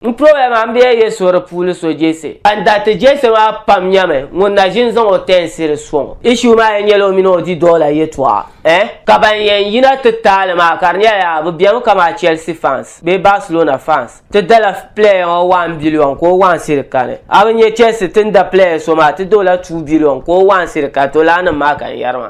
N toya maa, m bi yɛn yɛ so di puuni so Jese. Ban daa ti Jese maa pam nyɛmi ŋun na ʒi n-zaŋ o tɛɛnsiri sɔŋ o. Issue maa yɛn nyɛla o mini o didɔɔla yɛtɔɣa eh? Ka ban yɛn yina ti taali maa ka di nyɛla yaa bɛ bemi kamaa Chelsea fans bee Barcelona fans. Ti dala player ŋɔ one billion ka o wansiri kani. A bi nyɛ Chelsea ti ni da player so maa ti da o la two billion ka o wansiri kani to lala nim maa ka n yɛri maa.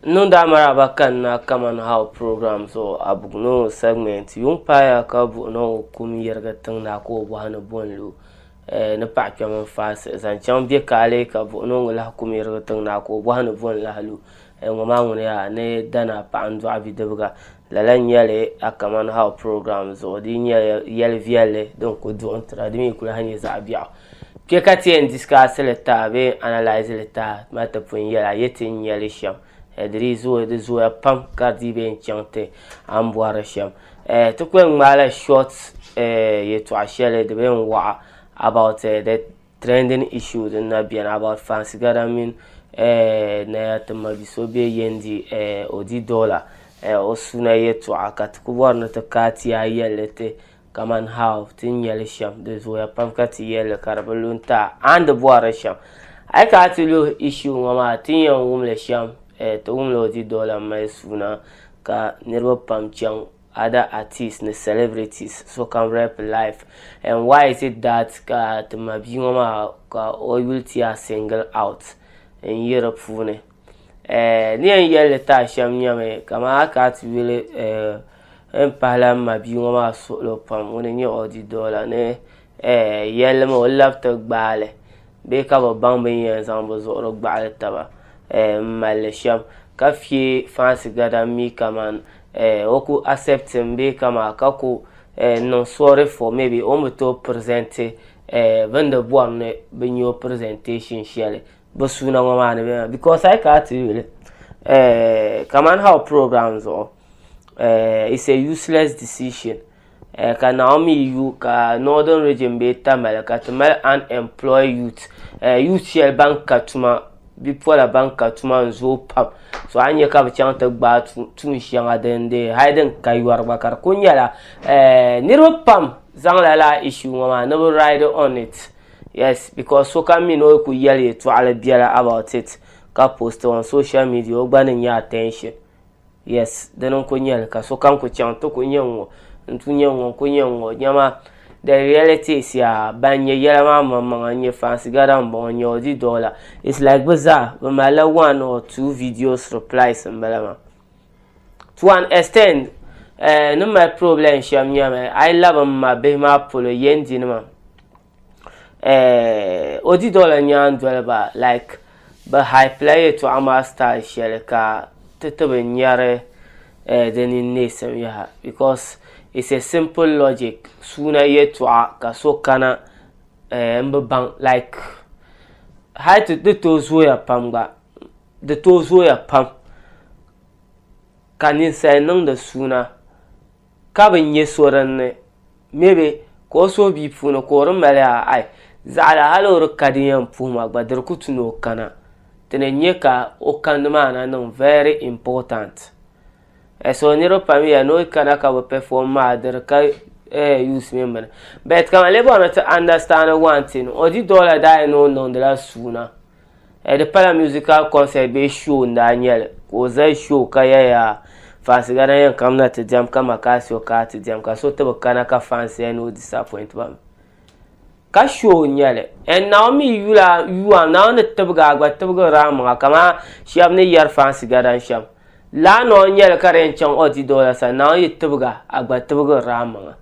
N niŋ daa maraba ka n na kaman how program zuɣu a buɣi ni o segment yuŋ paaya ka buɣi ni o kum yirigi tiŋ na ka o bɔhi ni bo n-lu eh, ni paɣa kpɛm n faai siɣi zaŋ chaŋ bɛ kaali ka buɣi ni o ŋun lahi kum yirigi tiŋ na ka o bɔhi ni bo n lahi lu eh, ŋɔ maa ŋuni yaa ni dana paɣa n dɔɣi bidibiga Lala n nyɛli a Kaman How program zuɣu di nyɛ yɛli viɛlli din ku duɣim tira di mi ku lahi nyɛ zaɣ biɛɣu. Kpe ka ti yɛn discuss li taha bee n analyse li taha ti mali ti pun yɛli a yɛ ti ni nya li shɛm eh di dii zooi di zooya pam ka di dii bi yɛn chaŋ ti a ni bɔri li shɛm eh ti ku yɛn ŋmaai la short eh yɛltɔɣa shɛli di bi yɛn waɣa about eh the trending issue din na beni about fancy gada mini eh, Naya Timabi so be Yendi eh, Odi Dola eh, o suna yɛtɔɣa ka ti ku bɔri ni ti ka ti yaa yɛlli ti kaman how ti ni nyɛli shɛm di zooya pam ka ti yɛlli ka di bi lu n-ti a and di bɔri shɛm a yi kana ti luhi issue ŋɔ maa ti ni yɛn wumli shɛm eh, ti wumli Odi Dola mali suna ka niriba pam chaŋ other artists ni celebrities sokam rap life and why is it that ka ti ma bia ŋɔ maa ka o yuli ti yaa single out n yi di puuni eh, ni yɛn yɛlli ti a shɛm nyɛmi kama a ka ti yuli eh, n pahila n ma bia ŋɔ maa suɣilo pam ŋuni n nyɛ Ɔdi Dɔla ni yɛlimi o labi ti gbaali bee ka bi baŋ bin yɛn zaŋ bi zuɣuri gbaɣali taba n malli shɛm ka fiɛ fansi gada mi kaman o ku asɛptin bee kama ka ku niŋ sɔri fɔ mɛbi o ni bi tooi pirizɛnti bin di bɔri ni bi nyɛ o pirizɛnteeshin shɛli bi suuna ŋɔ maa ni bɛna bikos a yi kana ti yuli kaman hau pirogiram zuɣu is e yusilɛs disishin Eh, ka Naomi yu ka Northern Region be Tamale ka ti mali unemployed youth eh, youth shɛli ban ka tuma bipola ban ka tuma n zooi pam so a nyɛ ka bi chaŋ ti gbaai tuun shɛŋa din de hali din ka yɔri gba ka di ku nyɛla eh, niriba pam zaŋla la issue ŋɔ maa ni bi ride on it yes because so kam mi ni o ku yɛli yɛtɔɣali biɛla about it ka post on social media o gba ni nyɛ attention yes dini n ku nyɛli ka sokam ku chaŋ ti ku nyɛ ŋɔ n tu nyɛ ŋɔ n ku nyɛ ŋɔ nyɛma the reality is yaa ban nyɛ yɛla maa maŋmaŋa n nyɛ fansi gada n bɔŋɔ n nyɛ ɔdi dɔla it's like bi zaa bi malila one or two videos replies n bala maa to an extent eh, ni mali problem shɛm nyɛmi a yi labi n ma bihi maa polo yɛn di nima eh, o di dɔla nyaan doliba like bɛ haipila yɛtɔɣa maa style shɛli ka ti ti bi nyari eh, di ni neesim yaha because it's a simple logic suuna yɛtɔɣa ka so kana eh, n bi baŋ like hali ti di tooi zooya pam gba di tooi zooya pam ka ninsali niŋdi suuna Ka bɛ nyɛ so din ni me bɛ, ka o suhu bia puuni ka o di mali a ai, zaɣila hal o di ka din yɛn puhi ma gba di di ku tu ni o kana. Ti ni nya ka o kandi maa na niŋ very important. Eh, so niriba pam ya ni o yi kana ka bɛ perform maa di di ka eh use mini bini. But ka man li bɔrimi ti understand one thing, o di dɔla daa yi ni o niŋdila suuna. Eh, di pala musical concert bee show n daa nyɛli ka o zali show ka yaya fansi gana yɛn kam na ti diɛm ka Macasio ka ti diɛm ka so ti bi kana ka fansi yɛn ni o disappoint ba mi ka show n nyɛli and eh, Naomi yula yuwa Naomi ni tibigi a gba tibigi raa maŋa kama shɛba ni yɛri fansi gana shɛm laanoo n nyɛli ka di yɛn chaŋ ɔdido la sani Naomi yi tibiga a gba tibigi raa maŋa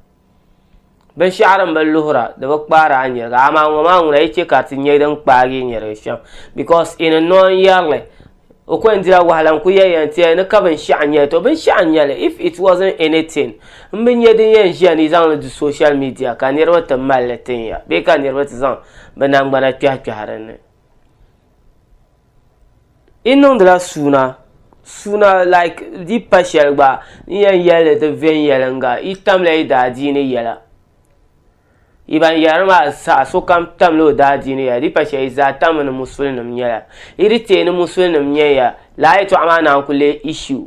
Binshaɣu din bi luhira di bi kpaari a nyɛriga amaa ŋɔ maa ŋuna yi chɛ ka ti nyɛ din kpaagi yi nyɛrigi shɛm bikos i ni noon yɛrili o ko yɛn dila wahala n-ku yɛli yɛn ti ya ni ka binshɛɣu n-nyɛli to binshɛɣu n-nyɛli if it wasn't anything m bi nya din yɛn ʒiya ni yi zaŋ li du social media ka niriba ti mali li tin ya bee ka niriba ti zaŋ bɛ nangbana kpɛhikpɛhi din ni. Yi niŋdila suuna suuna like di yi pa shɛli gba n yɛn yɛlli ti viɛnyɛlinga yi tamla yi daadiini yɛla yi ban yɛra maa zaa sokam tamla o daadiini yɛla di yi pa shɛli yi zaa tammi ni musulim nyɛla yi di tee ni musulim nyɛya lala yɛltɔɣa maa naan ku lee issues.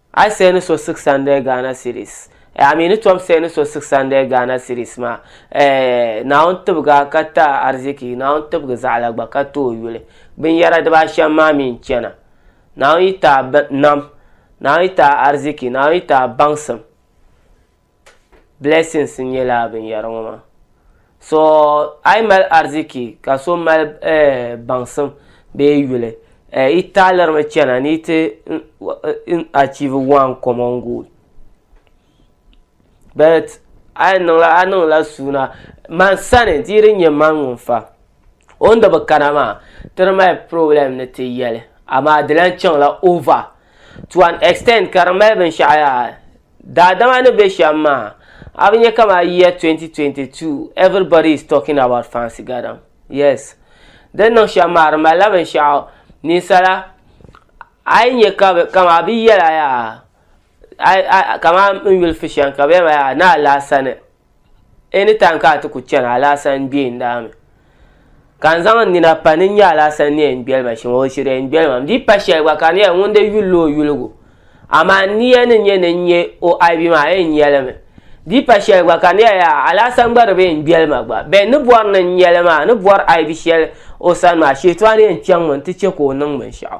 A yi siɣi ni so six hundred Ghana cedis eh, a mi ni tom siɣi ni so six hundred Ghana cedis maa eh, Naawuni tibigi a ka ti a ariziki, Naawuni tibigi zaɣ la gba ka ti o yuli. Binyɛra dibaashɛm maa mi n-chana, Naawuni yi ti a nam, Naawuni yi ti a ariziki, Naawuni yi ti a baŋsim. blessings n nyɛ laa binyɛri ŋɔ maa so a yi mali ariziki ka so mali eh, baŋsim bee yuli eh, yi taɣalirimi chɛna ni yi ti achieve one common goal but a yi niŋla a niŋla suuna man sani di yi di nyɛ man ŋun fa o ni di bi kana maa ti di mali problem ni ti yɛli amaa di lan chaŋla over to an extent ka di mali binshaɣu yaa daadama ni bɛ shɛm maa a bi nyɛ kama year 2022 everybody is talking about fancy gadam yes din niŋ shɛm maa di malila binshaɣu ninsala a yi nyɛ ka bi kama bi yɛla yaa a a kama n yuli fi shɛm ka bɛ yɛn ma yaa ni alaasani anytime ka a ti ku chani alaasa n-gbe n-daa mi ka n zaŋ n nina pa ni n-nya alaasa ni yɛn gbeli ma shɛm o shiri yɛn gbeli ma m di pa shɛli gba ka di nyɛla ŋun di yulila o yuligu amaa n niya ni nyɛ ni n-nya o aibi maa a yɛn nya li mi di pa shɛli gba ka di nyɛla yaa alaasa n-gba di bi yɛn gbeli ma gba bɛn ni bɔri ni n nya li maa ni bɔri aibi shɛli o sani maa shɛtɔɣu ni yɛn chaŋ mi n-ti che ka o niŋ binshɛɣu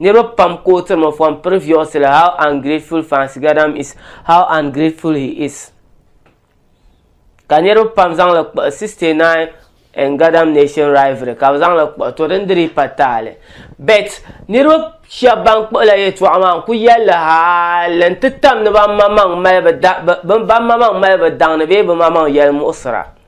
Niriba pam ka o tiri from previously how ungrateful Fancy Gadam is how ungrateful he is ka niriba pam zaŋli kpuɣi 69 and Gadam nation rivalry ka bɛ zaŋli kpuɣi to din diri pa taali bet niriba shɛba ban kpuɣila yɛltɔɣa maa n ku yɛlli haali n ti tam ni ban maŋmaŋ mali bɛ daŋ ni bee bɛ maŋmaŋ yɛlimuɣisira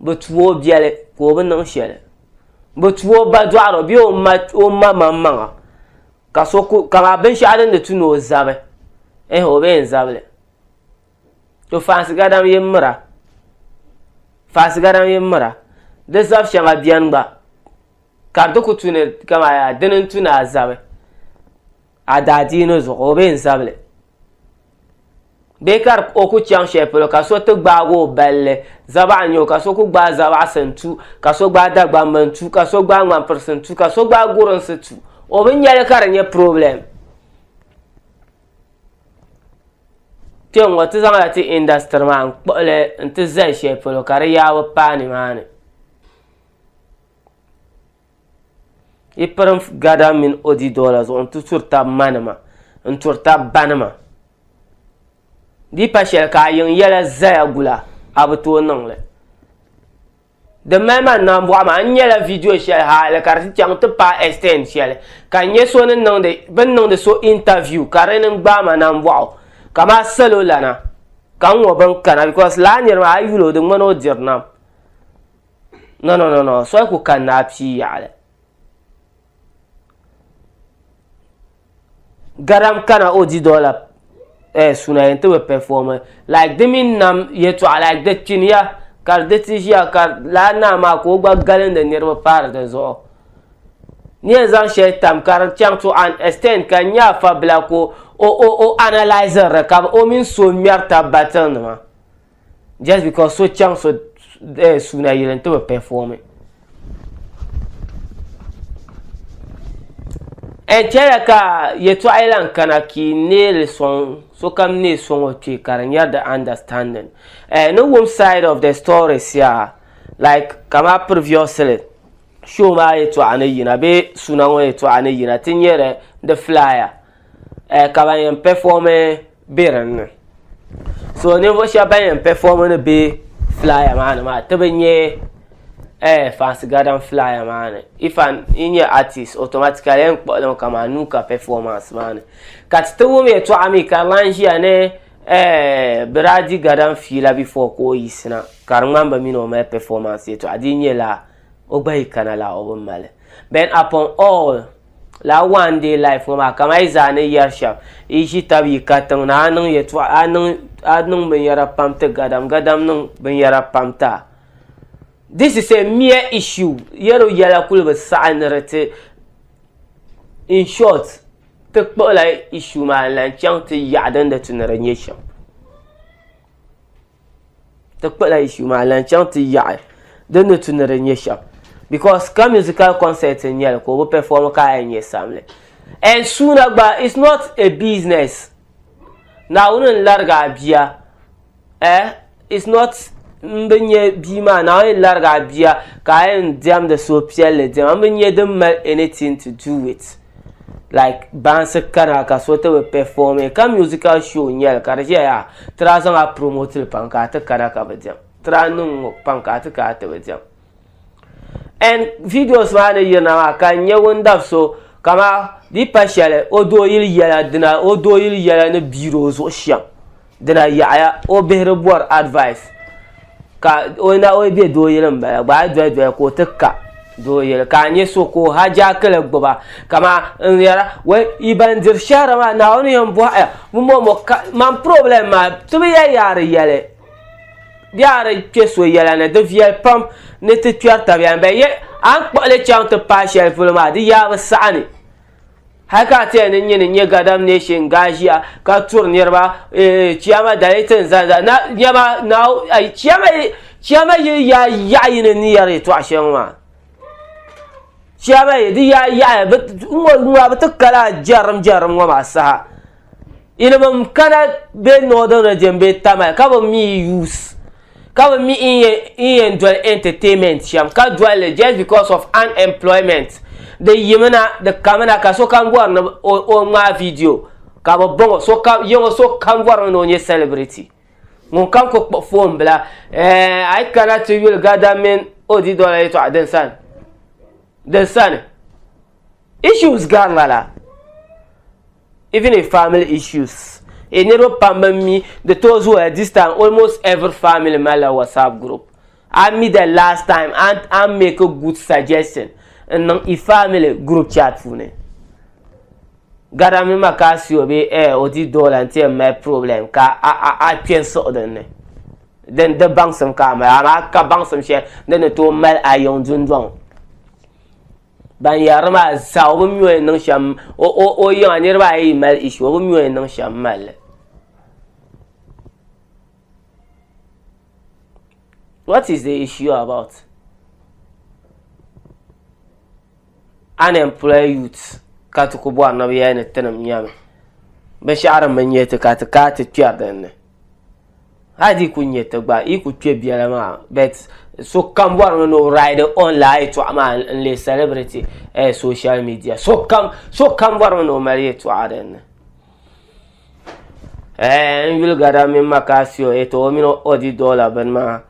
Bɛ tu o biɛli ka o bi niŋ shɛli. Bɛ tu o ba dɔɣiro bee o ma o ma maŋmaŋa ka so ku kamaa binshɛɣu din di tu ni o zabi ehe o bi yɛn zabi li. To faansi gadam yi mira faansi gadam yi mira di zab shɛŋa beni gba ka di ti ku tu ni kamaa yaa dini n-tu ni a zabi. A daa dii ni zuɣu o bee n zabili. Bee ka di o ku chaŋ shɛli polo ka so ti gbaagi o balli zabaɣa n-nyɛ o ka so ku gbaai zabaɣisi n-tu ka so gbaai Dagbamba n-tu ka so gbaai Ŋmanpirisi n-tu ka so gbaai Gurinsi tu o bi nya li ka di nyɛ problem. Kpe ŋ-ŋɔ ti zaŋla ti industry maa n-kpuɣi li n-ti zali shɛli polo ka di yaabu paai nimaani. Yi pirim gada mini odi doola zuɣu n-ti turi tab ma nima n-turi tab ba nima. Di yi pa shɛli ka a yiŋ yɛla zaya gula a bi tooi niŋ li. Di mali ma nambɔɣu maa n nyɛla vidiyo shɛli haali ka di ti chaŋ ti paai extend shɛli ka n nya so ni niŋdi bɛ ni niŋdi so interview ka di ni gbaai ma nambɔɣu ka maa salo lana ka n ŋɔ bɛ ni kana because lala niri maa a yi yuli o di ŋmani o diri nam. No, no, no, no. Soli ku kan naa pii yaɣali. Garam kana o di dɔla eh, suna yɛn ti bi pɛfɔmi. Like di mini nam yɛtɔɣa like di kpini ya ka di ti ʒiya ka laa naa maa ka o gba galindi niriba paari di zuɣu. Ni yɛn zaŋ shɛli tam ka di chaŋ to an extent ka nya afa bila ka o o o analyziri ka o mini so ŋmɛri tab battle nima. just because so chaŋ so eh, suuna yili n ti bi pɛfɔmi n chɛla ka yɛtɔɣa yi lan kana ka yi neeli sɔŋ sokam neei sɔŋ o kpee ka di nyɛri the understanding eh, ni wum side of the story sia like kama previously show maa yɛtɔɣa ni yina bee suuna ŋɔ yɛtɔɣa ni yina ti nyɛri the flyer eh, ka ban yɛn pɛfɔmi bɛ din ni so ninvuɣu shɛba ban yɛn pɛfɔɔmi ni bɛ filaaya maa ni maa ti bi nyɛ eh, fansi gadan filaaya maa ni if an yi nyɛ artist automatically yɛn kpuɣili mi kamani nuu ka performance maa ni ka ti ti wum yɛltɔɣa mi ka di lan ʒiya ni eh, Biraadi gadan fiila before ka o yiɣisina ka di ŋmani bi mini o mali performance yɛltɔɣa di yi nyɛ laa o gba yi kana la o bi mali then upon all la one day life ŋɔ maa kama yi zaa ni yɛri shɛm yi ʒi tabi yi ka tiŋ na a niŋ yɛtɔɣa a niŋ a niŋ binyɛra pam ti gadam gadam niŋ binyɛra pam ti a this is a mere issue yɛro yɛla kuli bi saɣi ni di ti in short ti kpuɣila issue maa n lan chaŋ ti yaɣa din di ti ni di nyɛ shɛm ti kpala issue maa lan chaŋ ti yaɣi din ni tu ni di nyɛ shɛm because ka musical concert n nyɛli ka o bi perform ka a yɛn nyɛ samli and suuna gba it's not a business naawuni n larigi a bia eh it's not n bi nyɛ bia maa naawuni n larigi a bia ka a yɛn diɛmdi suhupiɛlli diɛma n bi nyɛ din mali anything to do with like bansi kana ka so ti bi perform ka musical show nyɛli ka di ʒɛya ti daa zaŋ a promote li pam ka a ti kana ka bi diɛm ti daa niŋ ŋɔ pam ka a ti kana ti bi diɛm and videos maa ni yirina maa ka n nyɛ ŋun dab so kama di pa shɛli o doo yili yɛla dina o doo yili yɛla ni biiri o zuɣu shɛm Dina yaɣaya o bihi di bɔri advice ka o na o be doo yili m-bala gba a doli doli ka o ti ka doo yili ka a nya so ka o hajaakili gbuba kaman n yɛra wei yi ban diri shɛhira maa Naawuni yɛn bɔhi ya bɛ mɔ mɔ ka man problem maa ti bi yɛli ya a di yɛli bee a di kpe so yɛla ni di viɛli pam ni ti kpɛri tabiya ni bɛ yɛ a ni kpuɣi li chaŋ ti paai shɛli polo maa di yaa bi saɣi ni hali ka tiya ni nyini nyɛ gadam nation gaashia ka turi niriba eh, chiyama dali tin zali zali na nyɛma na chiyama chiyama yi ya yaɣa yini ni yɛri tɔɣa shɛŋa maa chiyama yi di ya yaɣa bi ŋɔ ŋɔ bi ti kala jɛrim jɛrim ŋɔ maa saha. Yili bɛ mi kana bɛ northern region bɛ Tamale ka bɛ mi use ka bɛ mi in yɛn doli entertainment shɛm ka doli li just because of unemployment di yimina di kamina ka sokam bɔri ni o ŋmaai video ka bɛ bɔŋɔ sokam yiŋɔ sokam bɔrimi ni o nyɛ celebrity ŋunkam ku kpuɣi phone bila eh a yi kana ti yuli gada mini o di dɔla yɛtɔɣa din sani din sani issues gari lala. even in family issues e niriba pam ban mi di tooi zooya this time almost every family malila whatsapp group a mi the last time and an make a good suggestion n niŋ i family group chat puuni gada mi ma ka si o be eh o di doola n ti yɛn mali problem ka a a a kpe n siɣi din ni din di baŋsim ka a mali amaa ka baŋsim shɛli din ni tooi mali a yiŋ dundɔŋ Ban yɛrili maa zaa o bi mi o yɛn niŋ shɛm o o o yiŋa niriba ayi yi mali ishi o bi mi o yɛn niŋ shɛm mali li what is the issue about unemployed youth ka ti ku bɔri ni bi yɛli ni tinim nyɛmi binshɛɣu din bi nyɛ ti ka ti kai ti kpɛri din ni. hadi ku nyɛ ti gba yi ku kpɛ biɛla maa bet sokam bɔri mi ni o ride on laa yɛtɔɣa maa n lee celebrity eh, social media sokam sokam bɔri mi ni o mali yɛtɔɣa dinni eh, n yuli gada mini makaasio eh, to o mini odi dɔla bini maa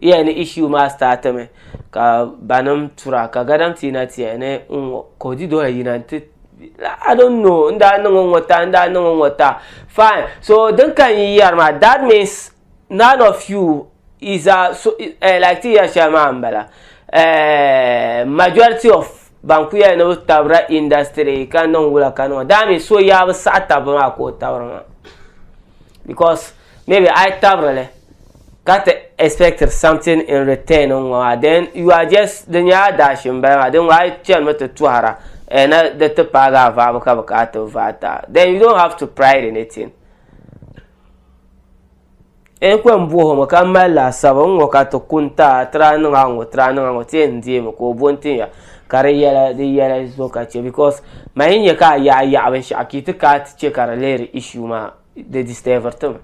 iya ni issue maa start mi ka banim tura ka gadam ti na tiya ni ŋɔ ka o di dɔla yina nti I don't know n daa niŋ ŋɔ ta n daa niŋ ŋɔ ta fine so din ka n yi yɛri maa that means none of you is a so uh, like ti yɛri shɛli maa n bala uh, majority of Ban ku yɛli ni bi tabira industry ka niŋ wula ka niŋ daa mi so yaa bi saɣi tabbu maa ka o tabiri maa because maybe a yi tabirili ka ti expect something in return n ŋɔ maa then you are just di nyɛla dash n bala maa din ŋɔ a yi chani mi ti tɔhira eh, na di ti paagi a vaabu ka bi ka a ti vaai ta then you don't have to pride in it. E kwe m buɣi ŋɔ ka mali laasabu n ŋɔ ka ti kun ta tira niŋa ŋɔ tira niŋa ŋɔ ti yɛn deemi ka o bo n tinya ka di yɛla di yɛla zuɣu ka chɛ because ma yi nya ka a yaɣi yaɣi binshɛɣu ka yi ti kana ti chɛ ka di lihiri issue maa di disturbiri ti mi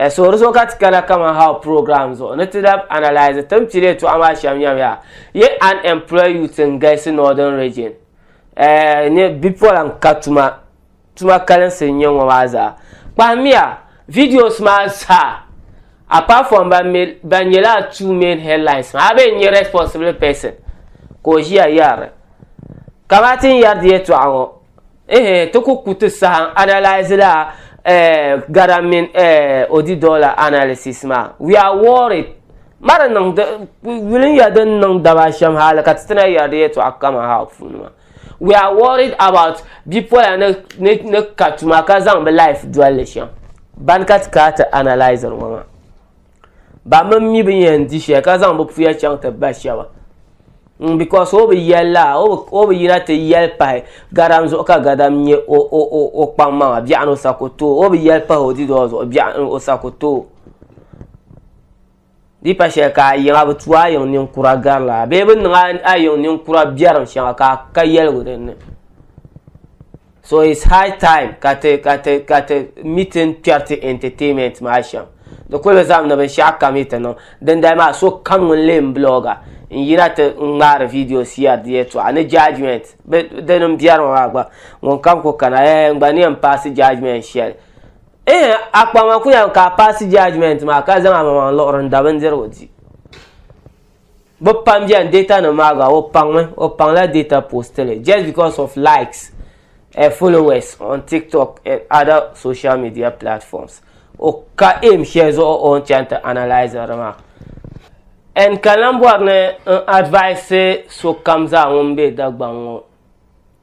so di zuɣu ka ti kana kaman how program zuɣu ni ti lahi analyse ti ni pili yɛltɔɣa maa shɛm nyɛla yi unemployed youth n galisi northern region ni bipola n ka tuma Tuma kalinsi n-nyɛ ŋɔ maa zaa. Kpahimiya videos maa zaa apart from ban mi ban nyɛla two main headlines maa a bee n-nyɛ responsible person ka o ʒiya yɛrili ka maa ti n-yɛri di yɛtɔɣa ŋɔ ehe ti ku ku ti saha n analyse la eh Garam mini eh Odidor la analysis maa we are worried ma di niŋ di yuli n-ya din niŋ daba shɛm hali ka ti ti na yɛri di yɛtɔɣa kaman how puuni maa. We are worried about bipola ni ni ni ka tuma ka zaŋ bi life dolli shɛm ban ka ti kaa ti analyzer ŋɔ maa ba mini mi bi yɛn di shɛli ka zaŋ bi puya chaŋ ti ba shɛba mm, because o bi yɛli la o bi yina ti yɛli pahi gadam zuɣu ka gadam nyɛ o o o o kpaŋ maŋa biɛɣuni o sako too o bi yɛli pahi o didoo zuɣu biɛɣuni o sako too Di pa shɛli ka a yiŋa bi tu a yiŋ ninkura gari la bee bi niŋ a yiŋ ninkura biɛrim shɛŋa ka ka yɛligu din ni. So it's high time ka ti ka ti ka ti meeting kpɛri ti entertainment maa shɛm. Di kuli bi zaŋ ni binshaɣu kam yi ti niŋ. Dindali maa so kam ŋun lee n blogger n yina ti n ŋmaari video siɛri di yɛltɔɣa ni judgement bi dini n biɛrimi maa gba ŋun kam kuli kana ɛɛh n gba ni yɛn paasi judgement shɛli. Eeh a kpaŋ ma kuya ka a paasi judgement maa ka zaŋ a maŋmaŋ luɣiri n da bindirigu di. Bɛ pam beni data nim maa gba o paŋmi o paŋla data post li just because of likes and followers on TikTok and other social media platforms o ka aim shɛli zuɣu o ni chaŋ ti analyse di maa. And ka lan bɔri ni n advise sokam zaa ŋun be Dagbaŋ ŋɔ.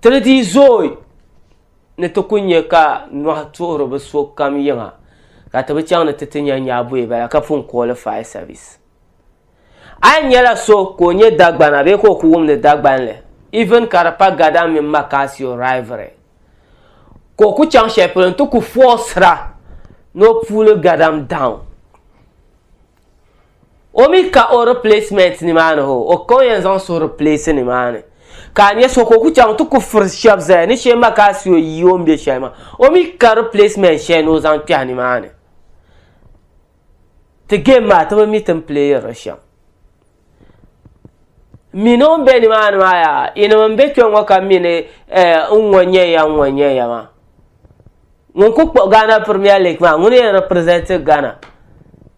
Ti ni dii zooi ni ti ku nya ka nɔhi tuhiri bi so kam yiŋa ka ti bi chaŋ ni ti ti nya nyaabuyi bala ka pun kooli fire service. A yi nyɛla so ka o nyɛ Dagbana bee ka o ku wumdi Dagbanli even ka di pa Gada mini Makasio rivalry ka o ku chaŋ shɛli polo nti ku forcera ni o pull Gadam down. O mi ka o replacement ni maa ni ho, o ka o yɛn zaŋ so replace ni maa ni. Ka a nya so ka o ku chaŋ ti ku furi shɛb zaya ni shee ma ka a si o yi o ni be shɛli maa. O mi ka replacement shɛli ni o zaŋ kpɛhi ni maa ni. Ti game maa ti bi mi ti ni playiri li shɛm. Mini o ni be ni maa ni maa yaa, yinim n be kpe ŋɔ ka mini eh, n ŋɔ nyɛ ya n ŋɔ nyɛ ya maa. Ŋun ku kpuɣi Ghana Premier League maa, ŋuni yɛn represent Ghana.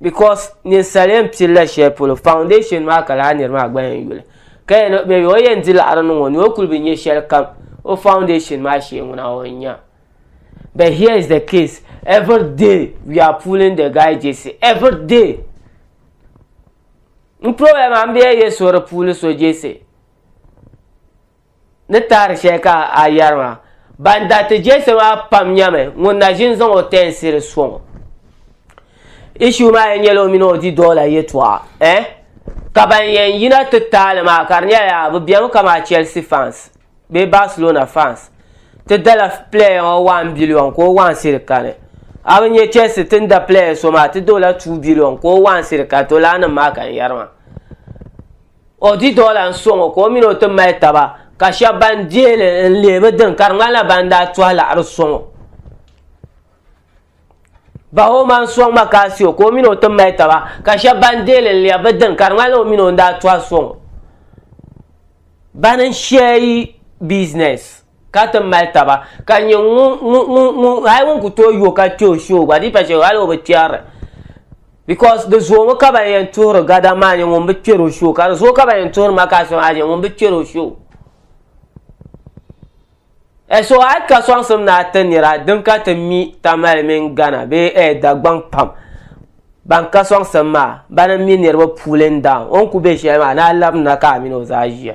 because ninsal yɛn pilila shɛli polo foundation maa ka laa niri maa gba yɛn yuli ka yɛn maybe o yɛn di laɣari niŋ o ni o kuli bi nyɛ shɛli kam o foundation maa shee ŋuna o yɛn nya but here is the case every day we are pulling the guy jc every day n problem am bɛ yɛ so di puuli so jc ni taari shɛli ka a yɛri maa, ban daa ti jɛsi maa pam nyɛmi ŋun na ʒini zaŋ o tɛɛnsiri sɔŋ o. Issue maa yɛn nyɛla o mini o di dɔɣila yɛtɔɣa eh? Ka ban yɛn yina ti taali maa ka di nyɛla yaa bɛ bemi kamaa Chelsea fans bee Barcelona fans ti dala player ŋɔ one billion ka o wansiri kani. A bi nyɛ Chelsea ti ni da player so maa ti da o la two billion ka o wansiri kani to laanim maa ka n yɛri maa. O di dɔla n-sɔŋ o ka o mini o ti mali taba, ka shɛba ban deei li n-leei bi dini ka di ŋmanila ban daa tɔhi laɣiri sɔŋ o. Bahooma n-sɔŋ ma ka a si o ka o mini o ti mali taba, ka shɛba ban deei li n-leei bi dini ka di ŋmanila o mini o n-daa tɔhi sɔŋ o. Bana n-share business. ka ti mali taba ka nyɛ ŋun hali ŋun ku tooi yo ka kpɛ o shoo gba di pa shɛli hali o bi kpɛrili because di zoomi ka ban yɛn tuhiri gada maa nyɛ ŋun bi kpɛri o shoo ka di zooi ka ban yɛn tuhiri makaasi maa nyɛ ŋun bi kpɛri o shoo e so hali ka sɔŋsim ni a ti nira din ka ti mi tamali mini gana bee e dagbaŋ pam ban ka sɔŋsim maa bana mi niriba puulin daan o ni ku bɛ shɛli maa ni a labina ka a mini o zaa ʒiya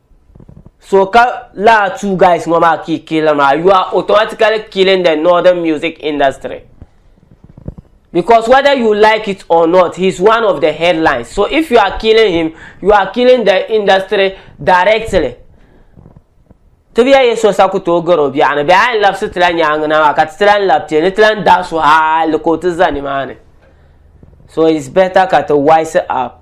So ka laa two guys ŋɔ maa kii killer maa you are automatically killing the northern music industry because whether you like it or not he is one of the headlines so if you are killing him you are killing the industry directly ti bi yɛ so sa ku tooi gari o biɛɣuni bɛ a yɛn labisi ti la nyaangi na maa ka ti ti lan labi ti ni ti lan dahi so hali ka o ti za nimaani so it's better ka ti wise up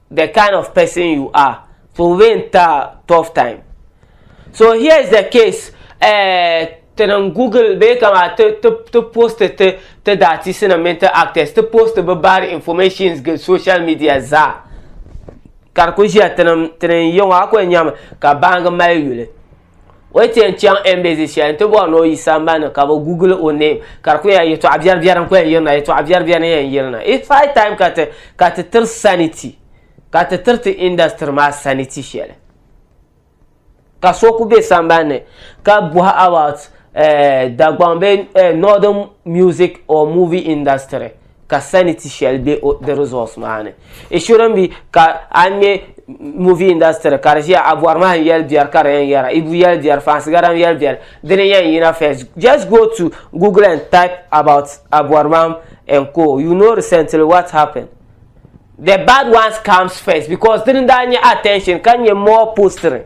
the kind of person you are puhibee n ta tough time so here is the case eh, ti niŋ google bee kama ti ti ti post ti ti daatisi nim mini ti actors ti post bi bad informations gili social media zaa ka di ku ʒiya ti niŋ ti niŋ yɛŋɔ a ku yɛn nyɛmi ka baangi mali yuli o yi tiɛn chaŋ embassy shɛli n ti bɔri ni o yi sambani ka bi google o name ka di ku yɛn yɛtɔɣa biɛri biɛri n ku yɛn yirina yɛtɔɣa biɛri biɛri n yɛn yirina it's high time ka ti ka ti tiri sanity ka ti tiri ti industry maa sanity shɛli ka so ku bɛ sambani ni ka bɔhi about eh, Dagbaŋ bɛ eh, northern music or movie industry ka sanity shɛli be o di results maa ni it shouldn't be ka a ŋmɛ movie industry ka di ʒiya a bɔri maa n yɛli biɛri ka di yɛn yɛra ibu yɛli biɛri fansi gari n yɛli biɛri di ni yɛn yina first just go to google and type about a bɔri maa and co you know recently what happened the bad ones comes first because di ni daa nyɛ attention ka nyɛ more postering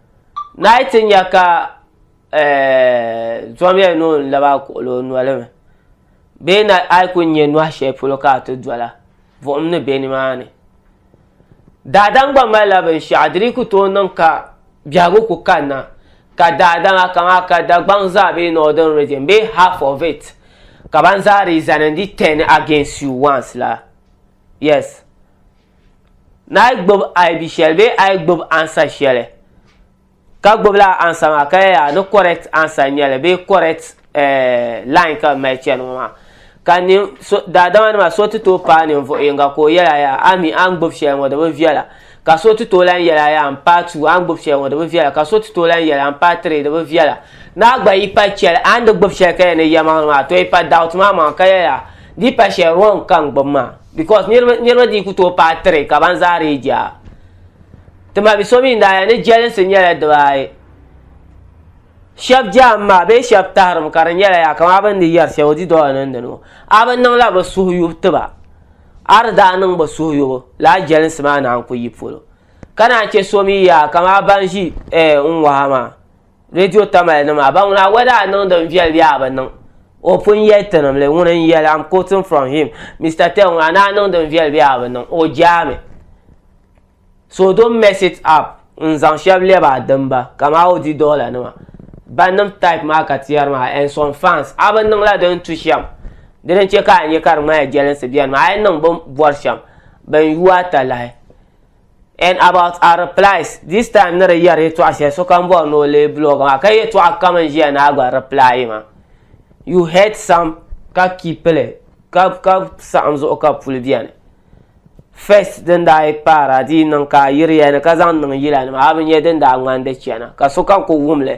Naa yi ti nya ka zɔmiya ni o ni laba kuɣili o noli mi, bee na a yi ku nya nɔhi shɛli polo ka a ti dɔla, buɣim ni be nimaani. Daadam gba malila binshɛɣu, di dii ku tooi niŋ ka biɛhigu ku kanna, ka daadama kaman ka Dagbaŋ zaa bee Northern Region bee half of it, ka ban zaa dii zani n-di turn against you once la. Yes. Naai gbib aibi shɛli bee ayi gbib ansa shɛli ka gbib laa ansa maa ka yɛli a ni correct ansa n nyɛli bee correct eh, line ka bi mali chɛni ŋɔ maa ka nin so daadama nima so ti tooi paai ninvuɣu yinga ka o yɛli a yaa a mi a ni gbib shɛli ŋɔ di bi viɛla ka so ti tooi lan yɛli a yaa n paai two a ni gbib shɛli ŋɔ di bi viɛla ka so ti tooi lan yɛli a n paai three di bi viɛla ni a gba yi pa chɛli a ni di gbib shɛli ka yɛli ni yɛlimaŋli maa to yi pa doubt maa maŋa ka yɛli a di yi pa shɛli wrong ka n gbib maa because niriba niriba dii ku tooi paai three ka ban zaa dii jaa tima bi so mi daa ya ni jɛlinsi nyɛla dibaayi shɛba jaam maa bee shɛba tahirim ka di nyɛla yaa kamaa bini di yɛri shɛba o di dɔla niŋdi ni ŋɔ a bi niŋla bi suhu yubu tiba a di daa niŋ bi suhu yubu lala jɛlinsi maa naan ku yi polo ka naan chɛ so mi yaa kamaa ban ʒi n waha maa. redio tamali nima a ba ŋuna whether a niŋdi n viɛli bee a bi niŋ o pun yɛli tinimli ŋuni n yɛli am quoting from him Mister Tell ŋuna ni a niŋdi n viɛli bee a bi niŋ o jaami so don't mess it up n zaŋ shɛba lɛbi a dimba kaman a odi dollar nima bannim type maa ka ti yɛri maa and some fans a bi niŋla di ni tu shɛm di ni che ka a nya ka di ŋmanila jɛlinsi beni maa a yi niŋ bɛ ni bɔri shɛm ban yuui a talahi And about our replies, this time ni di yɛri yɛtɔɣa shɛli sokam bɔri ni o leei blog maa ka yɛtɔɣa kam n ʒiya ni a gba reply ma. You heard some ka keep li ka ka saɣim zuɣu ka puli bɛni. First din daa yi paara di yi niŋ ka a yiriya ni ka zaŋ niŋ yila ni maa a bi nya din daa ŋmani di chana ka sokam ku wum li.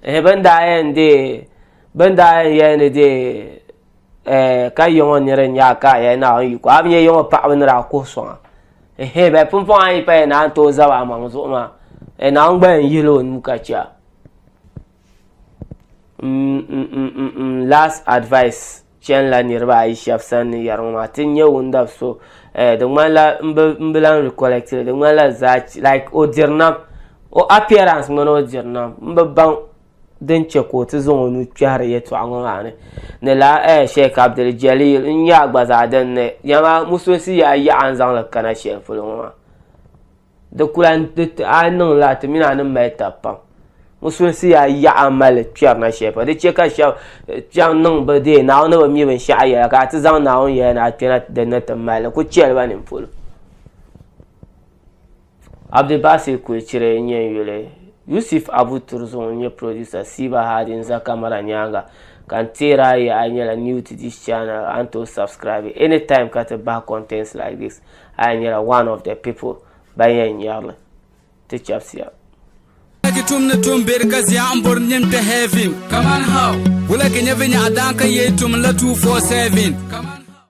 Ehe bin daa yɛn deei bin daa yɛn yɛli ni deei eh, ka yɔŋɔ nira nyaa ka a yɛn naawuni yiko a bi nyɛ yɔŋɔ paɣaba nira a kuhi sɔŋa ehe bɛ pumpɔŋ a yi paya na n tooi zaba amaŋ zuɣu maa eh, naawuni gba yɛn yihila o nuu ka chɛ a mm, mm, mm, last advice chɛnila niriba ayi shɛba sani ni yɛri ŋɔ maa ti nyɛ wundab so eh, di ŋmanila n bi lan recollect li di ŋmanila zaa like o diri nam o appearance ŋmani o diri nam n bi baŋ din chɛ ka o ti zaŋ o nuu kpɛhiri yɛtɔɣa ŋɔ maa ni ni lala eh, Sheikh Abdul Jalil n-nyɛ a gba zaa din ni nyama musulinsi yi a yaɣa n zaŋ li kana shɛli polo ŋɔ maa di ku lahi di ti a yi niŋ lala ti mini a ni mali tab pam musulinsi yi a yaɣa mali kpɛri na shɛli polo di chɛ ka shɛba eh, chaŋ niŋ bi deei Naawuni ni bi mi binshɛɣu yɛla ka a ti zaŋ Naawuni yɛla ni a kpɛna din ni ti mali li ku chɛ li ba nini polo. Abdulbasir Kuechire n nyɛ n yuli. Yusuf Abu Turzung n nyɛ producer Siiba Hadi n za camera nyaaŋa ka n teer a ya a nyɛla new to this channel a ni tooi subscribe any time ka ti bahi contents like this a ya nyɛla one of the people ban yɛn nyari li. Ti chabisiya. Wulagi tum ni tum beri ka zia n bori nim ti heaven. Kaman how? Wulagi nyɛ vinyɛɣu daan ka yei tum n la 247. Kaman.